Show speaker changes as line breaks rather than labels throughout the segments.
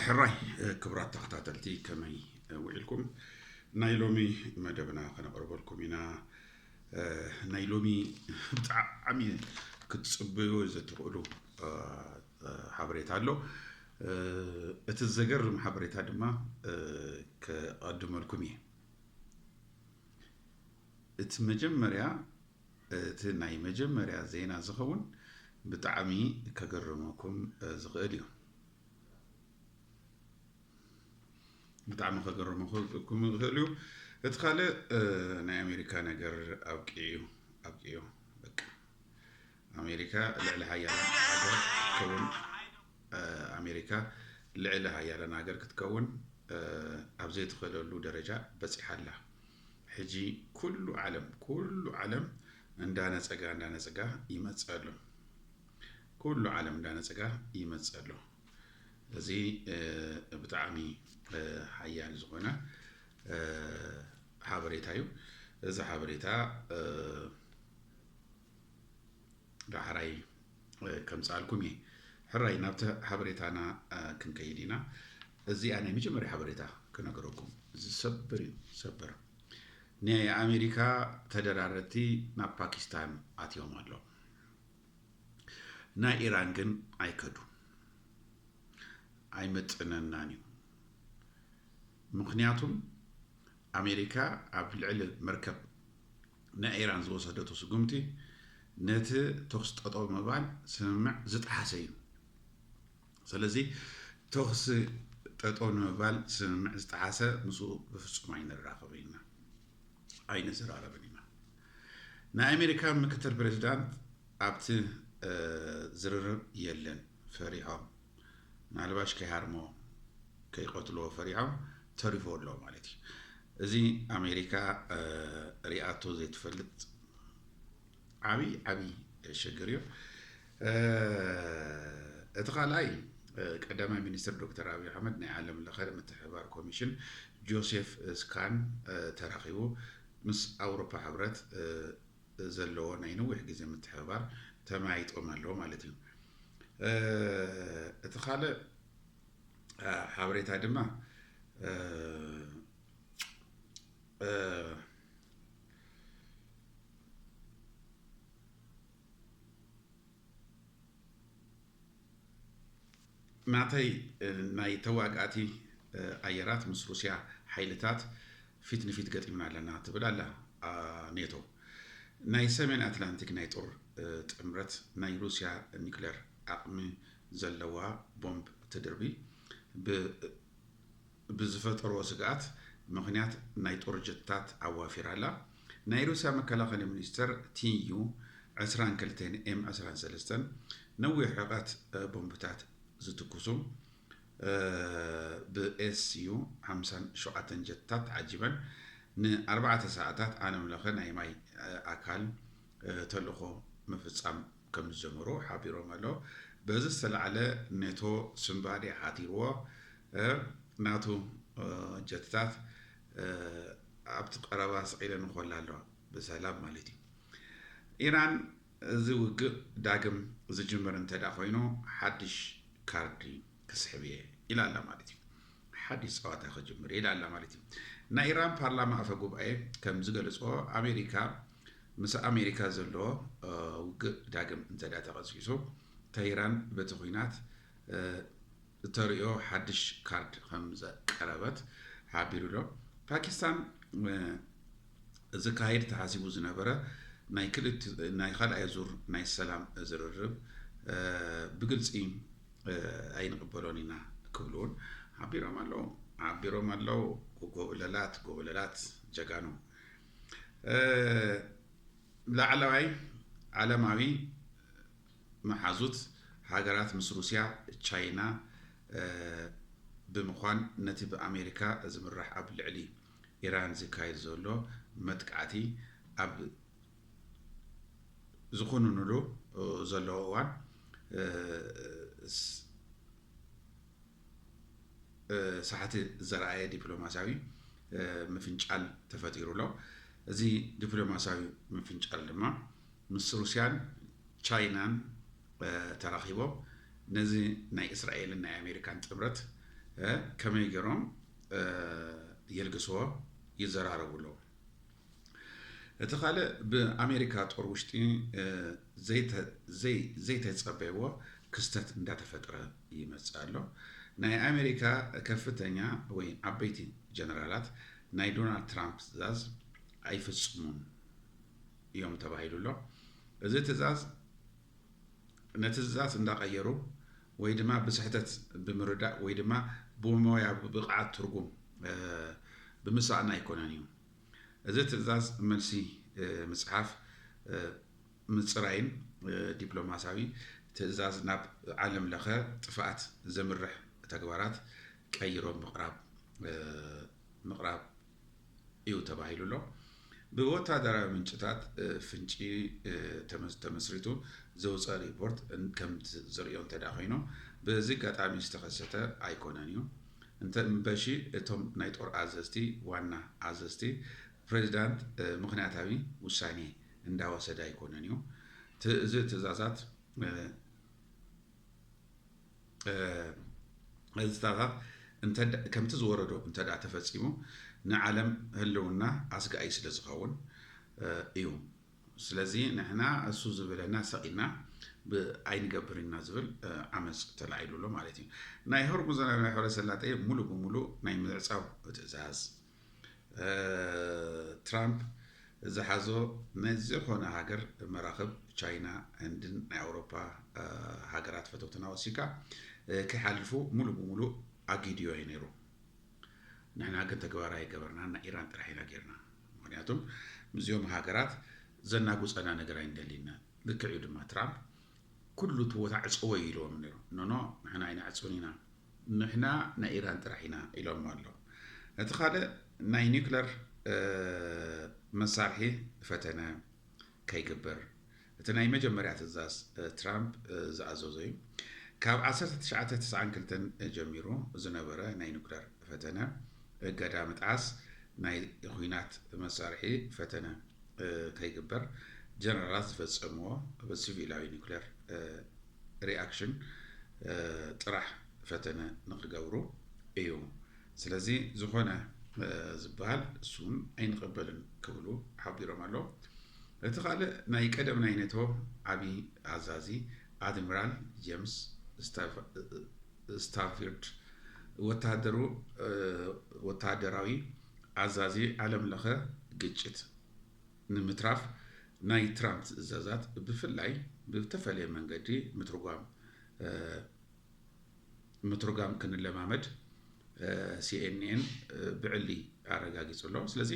ሕራይ ክብራት ተኸታተልቲ ከመይ ውዒልኩም ናይ ሎሚ መደብና ከነቕርበልኩም ኢና ናይ ሎሚ ብጣዕሚ ክትፅበዩ ዘትኽእሉ ሓበሬታ ኣሎ እቲ ዘገርም ሓበሬታ ድማ ከቐድመልኩም እየ እቲ መጀመርያ እቲ ናይ መጀመርያ ዜና ዝኸውን ብጣዕሚ ከገርመኩም ዝኽእል እዩ። ብጣዕሚ ከገርመኩም ዝኽእል እዩ። እቲ ካልእ ናይ ኣሜሪካ ነገር ኣብቂዑ ኣብቂዑ በቃ ኣሜሪካ ልዕሊ ሓያል ሃገር ክትከውን ኣሜሪካ ልዕሊ ሃያለን ሃገር ክትከውን ኣብ ዘይትኽእለሉ ደረጃ በፂሓ ኣላ። ሕጂ ኩሉ ዓለም ኩሉ ዓለም እንዳ ነጸጋ እንዳ ነጸጋ ይመጽእ ኣሎ ኩሉ ዓለም እንዳ ነጸጋ ይመጽእ ኣሎ እዚ ብጣዕሚ ሓያል ዝኾነ ሓበሬታ እዩ እዚ ሓበሬታ ዳሕራይ ከምጽኣልኩም እየ። ሕራይ ናብቲ ሓበሬታና ክንከይድ ኢና። እዚኣ ናይ መጀመርያ ሓበሬታ ክነገረኩም ዝሰብር እዩ ሰብር ናይ ኣሜሪካ ተደራረቲ ናብ ፓኪስታን ኣትዮም ኣሎ ናይ ኢራን ግን ኣይከዱ ኣይመጥነናን እዩ ምክንያቱም ኣሜሪካ ኣብ ልዕሊ መርከብ ናይ ኢራን ዝወሰደቶ ስጉምቲ ነቲ ተኹሲ ጠጠው ምባል ስምምዕ ዝጠሓሰ እዩ። ሰለዚ ተኹሲ ጠጠው ንምባል ስምምዕ ዝጠሓሰ ምስኡ ብፍጹም ኣይንራኸብን ኢና፣ ኣይንዘራረብን ኢና። ናይ ኣሜሪካ ምክትል ፕሬዚዳንት ኣብቲ ዝርርብ የለን፣ ፈሪሖም ምናልባሽ ከይሃርሞ ከይቀትልዎ ፈሪሖም ተሪፎ ኣሎ ማለት እዩ እዚ ኣሜሪካ ሪኣቶ ዘይትፈልጥ ዓብይ ዓብይ ሸግር እዩ እቲ ካልኣይ ቀዳማይ ሚኒስትር ዶክተር ኣብዪ ኣሕመድ ናይ ዓለም ለኸ ምትሕብባር ኮሚሽን ጆሴፍ ስካን ተራኺቡ ምስ ኣውሮፓ ሕብረት ዘለዎ ናይ ነዊሕ ግዜ ምትሕብባር ተመያይጦም ኣለዉ ማለት እዩ። እቲ ካልእ ሓበሬታ ድማ ናተይ ናይ ተዋጋእቲ ኣየራት ምስ ሩስያ ሓይልታት ፊት ንፊት ገጢምና ኣለና ትብል ኣላ ኔቶ። ናይ ሰሜን ኣትላንቲክ ናይ ጦር ጥምረት ናይ ሩስያ ኒክለር ዓቕሚ ዘለዋ ቦምብ ትድርቢ ብ ብዝፈጠሮ ስግኣት ምኽንያት ናይ ጦር ጀትታት ኣዋፊራ ኣላ። ናይ ሩስያ መከላኸሊ ሚኒስተር ቲዩ ዕስራን ክልተን ኤም ዕስራን ሰለስተን ነዊሕ ርሕቐት ቦምብታት ዝትኩሱ ብኤስዩ ሓምሳን ሸውዓተን ጀትታት ተዓጂበን ንኣርባዕተ ሰዓታት ዓለምለኸ ናይ ማይ ኣካል ተልእኾ ምፍጻም ከምዝጀመሩ ሓቢሮም ኣለው። በዚ ዝተላዕለ ኔቶ ስንባዴ ሓዲርዎ ናቱ ጀትታት ኣብቲ ቀረባ ስቂለን ይኾላ ኣለዋ፣ ብሰላም ማለት እዩ። ኢራን እዚ ውግእ ዳግም ዝጅምር እንተድኣ ኮይኑ ሓድሽ ካርዲ ክስሕብ እየ ኢላ ኣላ ማለት እዩ። ሓድሽ ፀዋታ ክጅምር እየ ኢላ ኣላ ማለት እዩ። ናይ ኢራን ፓርላማ ኣፈ ጉባኤ ከምዝገለፅኦ ኣሜሪካ ምስ ኣሜሪካ ዘሎ ውግእ ዳግም እንተድኣ ተቐጽጺጹ፣ ተህራን በቲ ኲናት እተርእዮ ሓድሽ ካርድ ከም ዘቀረበት ሓቢሩ'ሎ። ፓኪስታን ዝካየድ ተሓሲቡ ዝነበረ ናይ ካልኣይ ዙር ናይ ሰላም ዝርርብ ብግልጺ ኣይንቕበሎን ኢና ክብሉ'ውን ሓቢሮም ኣለው። ጎቦለላት ጎቦለላት ጀጋኑ! ላዕለዋይ ዓለማዊ መሓዙት ሃገራት ምስ ሩስያ፣ ቻይና ብምዃን ነቲ ብኣሜሪካ ዝምራሕ ኣብ ልዕሊ ኢራን ዝካየድ ዘሎ መጥቃዕቲ ኣብ ዝኹንንሉ ዘለዉ እዋን፣ ሳሕቲ ዘርኣየ ዲፕሎማስያዊ ምፍንጫል ተፈጢሩ ኣሎ። እዚ ዲፕሎማስያዊ ምፍንጫል ድማ ምስ ሩስያን ቻይናን ተራኺቦም ነዚ ናይ እስራኤልን ናይ ኣሜሪካን ጥምረት ከመይ ገይሮም የልግስዎ ይዘራረቡ ኣለዉ። እቲ ካልእ ብኣሜሪካ ጦር ውሽጢ ዘይተፀበይዎ ክስተት እንዳተፈጥረ ይመፅእ ኣሎ። ናይ ኣሜሪካ ከፍተኛ ወይ ዓበይቲ ጀነራላት ናይ ዶናልድ ትራምፕ ትእዛዝ ኣይፍፅሙን እዮም ተባሂሉ ኣሎ። እዚ ትእዛዝ ነቲ ትእዛዝ እንዳቐየሩ ወይ ድማ ብስሕተት ብምርዳእ ወይ ድማ ብሞያ ብብቕዓት ትርጉም ብምሳእና ኣይኮነን እዩ። እዚ ትእዛዝ መልሲ ምጽሓፍ ምጽራይን ዲፕሎማሲያዊ ትእዛዝ ናብ ዓለም ለኸ ጥፍኣት ዘምርሕ ተግባራት ቀይሮም ምቕራብ ምቕራብ እዩ ተባሂሉ ኣሎ። ብወታደራዊ ምንጭታት ፍንጪ ተመስሪቱ ዘውፀ ሪፖርት ከምቲ ዝርእዮ እንተዳ ኮይኑ በዚ ኣጋጣሚ ዝተኸሰተ ኣይኮነን እዩ። እንተ እምበሺ እቶም ናይ ጦር ኣዘዝቲ፣ ዋና ኣዘዝቲ፣ ፕሬዚዳንት ምኽንያታዊ ውሳኔ እንዳወሰደ ኣይኮነን እዩ እዚ ትእዛዛት እዝታታት እንተ ከምቲ ዝወረዶ እንተ ተፈጺሙ ንዓለም ህልውና ኣስጋኢ ስለ ዝኸውን እዩ። ስለዚ ንሕና እሱ ዝብለና ሰቂና ብ ኣይንገብርን ኢና ዝብል ዓመጽ ተላዒሉ ኣሎ ማለት እዩ። ናይ ሆርሙዝ ናይ ባሕረ ሰላጤ ሙሉእ ብሙሉእ ናይ ምዕጻው ትእዛዝ ትራምፕ ዝሓዞ ንዝኾነ ሃገር መራኽብ ቻይና፣ ህንድን ናይ ኣውሮፓ ሃገራት ፈተውትና ወሲካ ከይሓልፉ ሙሉእ ብሙሉእ ኣጊድዮ እዩ ነይሩ። ንሕና ግን ተግባራዊ ኣይገበርናን ናይ ኢራን ጥራሕ ኢና ጌርና። ምክንያቱም ምስዚኦም ሃገራት ዘናጉጸና ነገር ኣይንደልይናን ልክዕ እዩ ድማ ትራምፕ ኩሉ እቲ ቦታ ዕጽዎ እዩ ኢልዎም ነይሩ ኖኖ ንሕና ኣይንዕጽውን ኢና ንሕና ናይ ኢራን ጥራሕ ኢና ኢሎሞ ኣለዉ እቲ ካልእ ናይ ኒክለር መሳርሒ ፈተነ ከይግበር እቲ ናይ መጀመርያ ትእዛዝ ትራምፕ ዝኣዘዞ እዩ። ካብ ዓሰርተ ትሽዓተ ተስዓን ክልተን ጀሚሩ ዝነበረ ናይ ኑክለር ፈተነ እገዳ ምጥዓስ ናይ ኹናት መሳርሒ ፈተነ ከይግበር ጀነራላት ዝፈጸምዎ ብሲቪላዊ ኑክለር ሪኣክሽን ጥራሕ ፈተነ ንክገብሩ እዩ ስለዚ ዝኾነ ዝበሃል እሱውን ኣይንቕበልን ክብሉ ሓቢሮም ኣለው። እቲ ካልእ ናይ ቀደም ናይ ኔቶ ዓቢ ኣዛዚ ኣድሚራል ጀምስ ስታፊርድ ወተሃደራዊ ኣዛዚ ዓለም ለኸ ግጭት ንምትራፍ ናይ ትራምፕ ትእዛዛት ብፍላይ ብተፈለየ መንገዲ ምትርጓም ምትርጓም ክንለማመድ ሲኤንኤን ብዕሊ ኣረጋጊጹ ኣሎ ስለዚ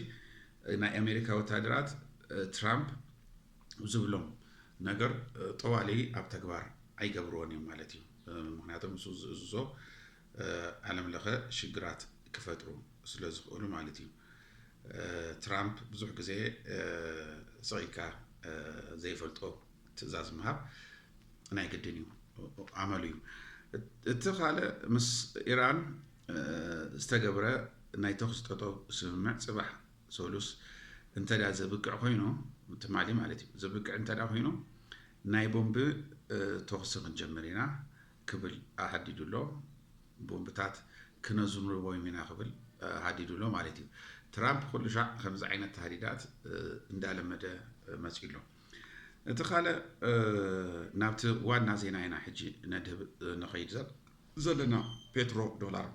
ናይ ኣሜሪካ ወታደራት ትራምፕ ዝብሎም ነገር ጠዋሊ ኣብ ተግባር ኣይገብርዎን እዮም ማለት እዩ ምክንያቱም ንሱ ዝእዝዞ ዓለም ለኸ ሽግራት ክፈጥሩ ስለ ዝኽእሉ ማለት እዩ ትራምፕ ብዙሕ ግዜ ስቂካ ዘይፈልጦ ትእዛዝ ምሃብ ናይ ግድን እዩ፣ ኣመሉ እዩ። እቲ ካልእ ምስ ኢራን ዝተገብረ ናይ ተኹሲ ጠጠው ስምምዕ ጽባሕ ሰሉስ እንተድኣ ዘብቅዕ ኮይኑ ትማሊ ማለት እዩ ዘብቅዕ እንተድኣ ኮይኑ ናይ ቦምቢ ተኹሲ ክንጀምር ኢና ክብል ኣሃዲዱ ኣሎ። ቦምብታት ክነዝንቦም ኢና ክብል ሃዲዱ ኣሎ ማለት እዩ። ትራምፕ ኩሉ ሻዕ ከምዚ ዓይነት ተሃዲዳት እንዳለመደ መጺኡ ኣሎ። እቲ ካልእ ናብቲ ዋና ዜና ኢና ሕጂ ነድህብ ንኸይድ ዘለና ፔትሮ ዶላር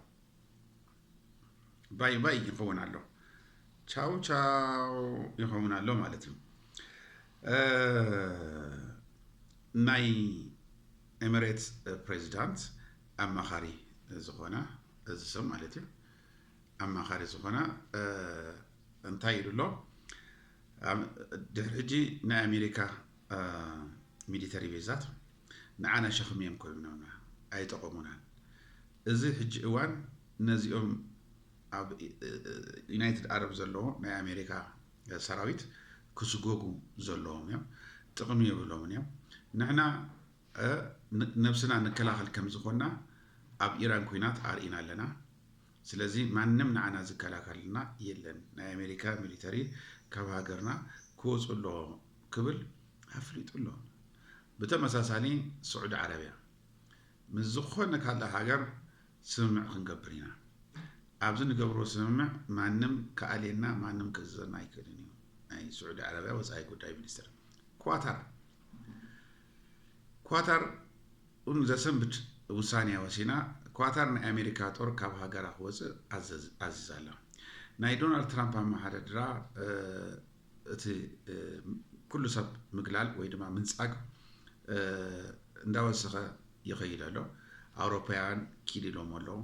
ባይ ባይ ይኸውን ኣሎ ቻው ቻው ይኸውን ኣሎ ማለት እዩ ናይ ኤምሬትስ ፕሬዚዳንት ኣማኻሪ ዝኾነ እዚ ሰብ ማለት እዩ ኣማኻሪ ዝኾና እንታይ ኢሉ ኣሎ? ድሕሪ ሕጂ ናይ ኣሜሪካ ሚሊተሪ ቤዛት ንዓና ሸኽሚ እዮም ኮይኖምና፣ ኣይጠቐሙናን። እዚ ሕጂ እዋን ነዚኦም ኣብ ዩናይትድ ዓረብ ዘለዎ ናይ ኣሜሪካ ሰራዊት ክስጎጉ ዘለዎም እዮም፣ ጥቕሚ የብሎምን እዮም። ንሕና ነብስና ንከላኸል ከም ዝኾንና ኣብ ኢራን ኩናት ኣርኢና ኣለና። ስለዚ ማንም ንዓና ዝከላከለልና የለን ናይ ኣሜሪካ ሚሊተሪ ካብ ሃገርና ክወጹ ኣለዎም ክብል ኣፍሊጡ ኣሎ። ብተመሳሳሊ ስዑዲ ዓረብያ ምስ ዝኾነ ካልእ ሃገር ስምምዕ ክንገብር ኢና። ኣብዚ ንገብሮ ስምምዕ ማንም ክኣልየና ማንም ከእዝዘና ኣይክእልን እዩ ናይ ስዑዲ ዓረብያ ወጻኢ ጉዳይ ሚኒስትር። ኳታር ኳታር ኡን ዘሰንብድ ውሳኔ ወሲና፣ ኳታር ናይ ኣሜሪካ ጦር ካብ ሃገራ ክወጽእ ኣዚዛ'ላ። ናይ ዶናልድ ትራምፕ ኣመሓደድራ እቲ ኩሉ ሰብ ምግላል ወይ ድማ ምንጻግ እንዳወሰኸ ይኸይድ ኣሎ። ኣውሮፓውያን ኪድ ኢሎሞ ኣለዉ።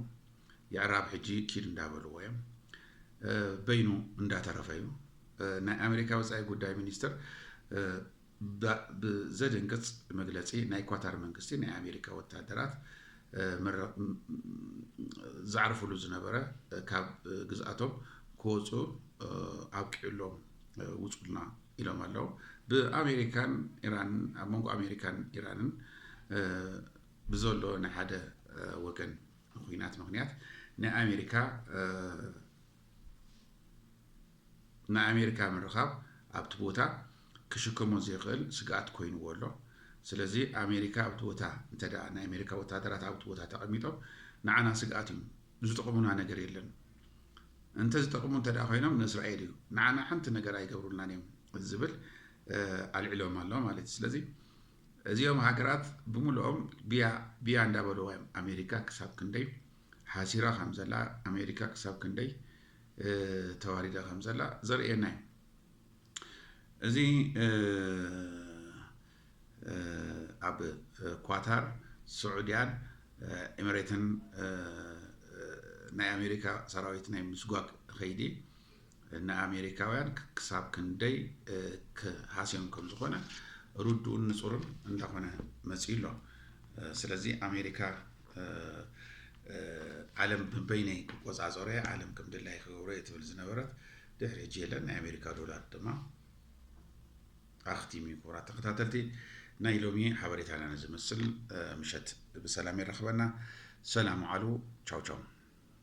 የዕራብ ሕጂ ኪድ እንዳበልዎ እዮም። በይኑ እንዳተረፈ እዩ። ናይ ኣሜሪካ ወጻኢ ጉዳይ ሚኒስትር ባእ ብዘድንግጽ መግለጺ ናይ ኳታር መንግስቲ ናይ ኣሜሪካ ወታሃደራት ዝዓርፍሉ ዝነበረ ካብ ግዝኣቶም ክወፁ ኣብቂዑሎም ውፁልና ኢሎም ኣለው ብኣሜሪካን ኢራንን ኣብ መንጎ ኣሜሪካን ኢራንን ብዘሎ ናይ ሓደ ወገን ኩናት ምክንያት ናይ ኣሜሪካ ናይ ኣሜሪካ ምርኻብ ኣብቲ ቦታ ክሽከሞ ዘይኽእል ስግኣት ኮይንዎ ኣሎ። ስለዚ ኣሜሪካ ኣብቲ ቦታ እንተ ናይ ኣሜሪካ ወታደራት ኣብቲ ቦታ ተቐሚጦም ንዓና ስግኣት እዩ፣ ዝጠቕሙና ነገር የለን። እንተ ዝጠቕሙ እንተ ኮይኖም ንእስራኤል እዩ፣ ንዓና ሓንቲ ነገር ኣይገብሩልናን እዮም ዝብል ኣልዒሎም ኣሎ ማለት እዩ። ስለዚ እዚኦም ሃገራት ብምልኦም ብያ ብያ እንዳበለዋ እዮም ኣሜሪካ ክሳብ ክንደይ ሓሲራ ከም ዘላ፣ ኣሜሪካ ክሳብ ክንደይ ተዋሪዳ ከም ዘላ ዘርእየና እዩ። እዚ ኣብ ኳታር ስዑድያን ኤምሬትን ናይ ኣሜሪካ ሰራዊት ናይ ምስጓግ ኸይዲ ንኣሜሪካውያን ክሳብ ክንደይ ክሃስዮም ከም ዝኾነ ርዱእን ንጹርን እንዳኾነ መጺኡ ኣሎ። ስለዚ ኣሜሪካ ዓለም ብበይነይ ክቆጻጸሮ እየ፣ ዓለም ከም ድላይ ክገብሮ እየ ትብል ዝነበረት ድሕሪ ሕጂ የለን። ናይ ኣሜሪካ ዶላር ድማ ኣኽቲሙ እዩ። ክቡራት ተኸታተልቲ ናይ ሎሚ ሓበሬታና ንዝመስል ምሸት ብሰላም የረኽበና። ሰላም ዓሉ ቻው ቻው።